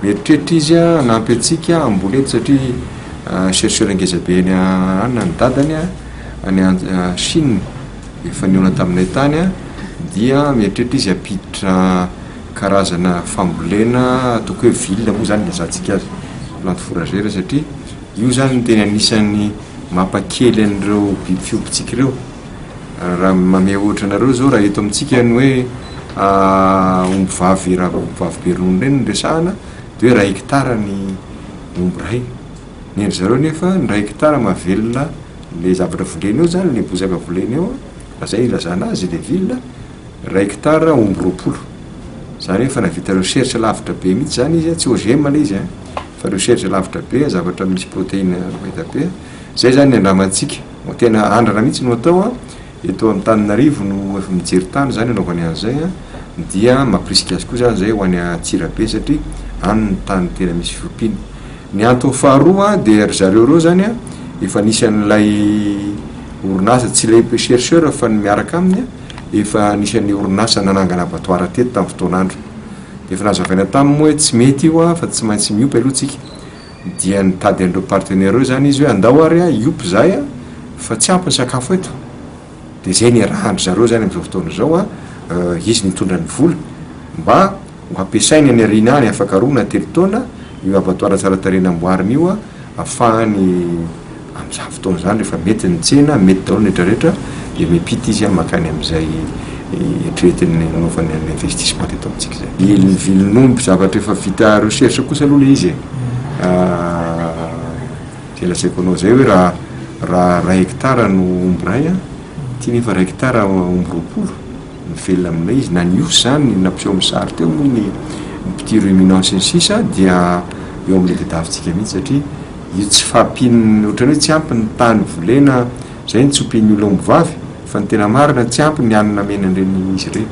Mieritreritra izy hanampy antsika hamboly eto satria chercheur ngeza be any anona ny dadany any Chine efa nihaona taminay tany dia mieritreritra izy hampiditra karazana fambolena ataoko hoe ville moa zany lazatsika azy plante fourragère satria io zany no tena anisan'ny mampakely an'ireo biby fiompitsika ireo. Raha mamehy ohatra anareo zao raha eto amintsika ny hoe omby vavy ra omby vavy be ronono ireny no resahana de hoe iray hectare ny omby iray ny an-dry zareo nefa ny iray hectare mahavelona le zavatra voleny eo zany le bozaka voleny eo raha zay ilazana azy le ville iray hectare omby roapolo zany efa nahavita recherche lavitra be mihitsy zany izy a tsy OGM le izy a fa recherche lavitra be zavatra misy proteine mahita be a zay zany ny andramantsika Mba tena andrana mihitsy no atao an! Eto Antananarivo no efa mijery tany izany anaovany an'izay an! Dia mampirisika azy koa izany izay ho any Antsirabe satria any ny tany tena misy fiompiana. Ny antony faharoa an, dia ry zareo ireo izany an, efa nisy an'ilay orinasa, tsy ilay chercheur fa ny miaraka aminy an, efa anisan'ny orinasa nanangana abattoir teto tamin'ny fotoan'androny. Dia efa nazavaina taminy moa hoe tsy mety io an, fa tsy maintsy miompy aloha tsika. dia nitady an'ireo partenaires ireo izany izy hoe andao ary aho hiompy izahay a, fa tsy ampy ny sakafo eto, dia izay niarahan-dry zareo izany amin'izao fotoana izao a, izy nitondra ny vola mba ho hampiasainy any aoriana any, afaka roa na telo taona io abattoir tsara tarehy namboariny io a, ahafahany Amin'izany fotoana izany rehefa mety ny tsena, mety daholo ny rehetra rehetra, dia miampita izy makany amin'izay eritreretiny hanaovany an'ilay investissement teto amintsika izay. Viliny viliny omby, zavatra efa vita recherche kosa aloha ilay izy e! izay lazaiko anao izay hoe raha raha iray hectare no omby iray an, ity nefa iray hectare omby roapolo, Mivelona aminay izy, na ny osy izany nampiseho amin'ny sary teo moa ny petit ruminant sy ny sisa dia eo amin'ny tadiavintsika mihitsy satria io tsy fahampian'ny ohatrany hoe tsy ampy ny tany volena izay no tsy ompian'ny olona ombivavy fa ny tena marina tsy ampy ny hanina amenan'ireny izy ireny.